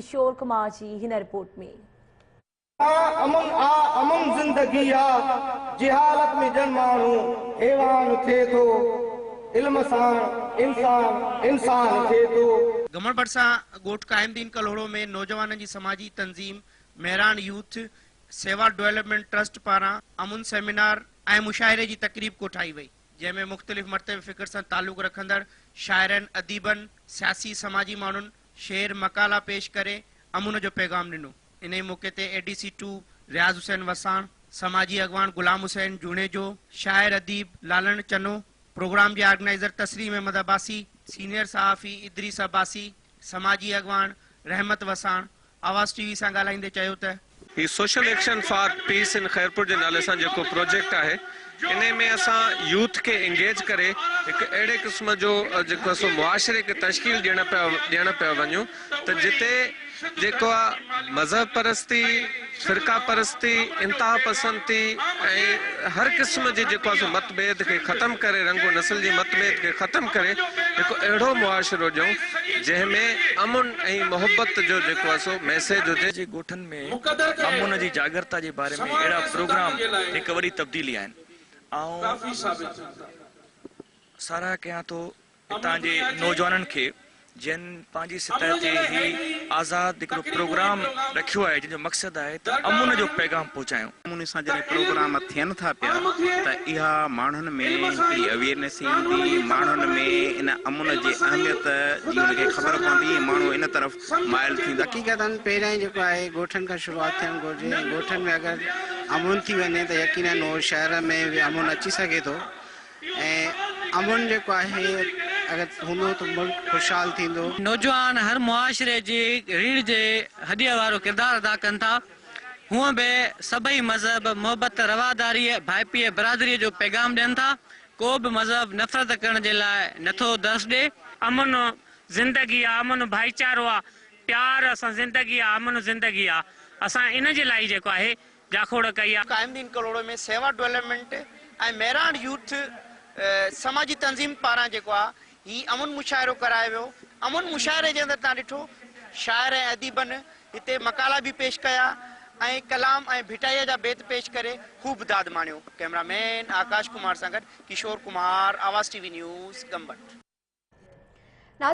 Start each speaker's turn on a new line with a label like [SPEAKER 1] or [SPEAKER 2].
[SPEAKER 1] ڪشور ڪمار جي هن رپورٽ ۾. آ امن آ
[SPEAKER 2] امن زندگي آ جهالت ۾ ڄڻ ماڻهو حيوان ٿئي ٿو علم ساڻ انسان انسان ٿئي ٿو. گهمڻ ڀرسان
[SPEAKER 3] ڳوٺ قائم دين ڪلهوڙو ۾ نوجوانن جي سماجي تنظيم Mehran youth Sewa development trust پاران امن سيمينار ۽ مشاعري جي تقريب ڪوٺائي وئي. جنهن ۾ مختلف مرتبي فڪر سان تعلق رکندڙ شاعرن، اديبن، سياسي سماجي ماڻهن شعر، مقالا پيش ڪري امن جو پيغام ڏنو. انهيء موقعي تي A D C two Riaz Hussain Wassan, سماجي اڳواڻ غلام حسين جوڻيجو، شاعر اديب لالڻ چنو، پروگرام جي آرگنائيزر تسليم احمد عباسي، سينيئر صحافي ادريس عباسي، سماجي اڳواڻ رحمت وساڻ، آواز ٽي وي سان ڳالهائيندي چيو ته. هي social action
[SPEAKER 4] for peace in Khairpur جي نالي سان جيڪو پروجيڪٽ آهي انهي ۾ اسان يوٿ کي انگيج ڪري هڪ اهڙي قسم جو جيڪو آهي سو معاشري کي تشڪيل ڏيڻ پيا ڏيڻ پيا وڃون ته جتي جيڪو آهي مذهب پرستي فرقه پرستي انتها پسندي ۽ هر قسم جي جيڪو آهي سو مت ڀيد کي ختم ڪري رنگ و نسل جي مت ڀيد کي ختم ڪري هڪ اهڙو معاشرو ڏيون جنهن ۾ امن ۽ محبت جو جيڪو آهي سو ميسيج هجي. جي ڳوٺن ۾
[SPEAKER 5] امن جي جاڳرتا جي باري ۾ اهڙا پروگرام هڪ وڏي تبديلي آهن. آئون ساراهه ڪيان ٿو هتان جي نوجوانن کي جن پنهنجي سطح تي هي آزاد هڪڙو پروگرام رکيو آهي جنهن جو مقصد آهي ته امن جو پيغام پهچايون. نموني سان جڏهن پروگرام
[SPEAKER 6] ٿين ٿا پيا ته اها ماڻهن ۾ هڪڙي اويئرنيس ايندي، ماڻهن ۾ ان امن جي اهميت جي ان کي خبر پوندي ۽ ماڻهو ان طرف مائل ٿيندا. حقيقتا پهريائين جيڪو
[SPEAKER 7] آهي ڳوٺن کان شروعات ٿيڻ گهرجي ۽ ڳوٺن ۾ اگر امن ٿي وڃي ته يقينن هو شهر ۾ به امن اچي سگهي ٿو ۽ امن جيڪو آهي اگر هوندو ته ملڪ خوشحال ٿيندو. نوجوان هر
[SPEAKER 8] معاشري جي ريڙهه جي هڏيء وارو ڪردار ادا ڪن ٿا. هونء به سڀئي مذهب محبت، رواداريء، ڀائپيء، برادريء جو پيغام ڏين ٿا. ڪو به مذهب نفرت ڪرڻ جي لاء نه ٿو درس ڏئي. امن
[SPEAKER 9] زندگي آ، امن ڀائيچارو آ، پيار سان زندگي آ، امن زندگي آ. اسان ان جي لاء ئي جيڪو آهي جاکوڙ ڪئي آ. قائم دين ڪلهوڙو ۾ سيوا
[SPEAKER 3] ڊولپمينٽ ۽ مهراڻ يوٿ سماجي تنظيم پاران جيڪو آ هي امن مشاعرو ڪرايو ويو. امن مشاعري جي اندر تان ڏٺو شاعر ۽ اديبن هتي مقالا به پيش ڪيا ۽ ڪلام ۽ ڀٽائيء جا بيت پيش ڪري خوب داد ماڻيو. ڪئميرا مين آڪاش ڪمار سان گڏ ڪشور ڪمار آواز ٽي وي نيوز ڳمبٽ.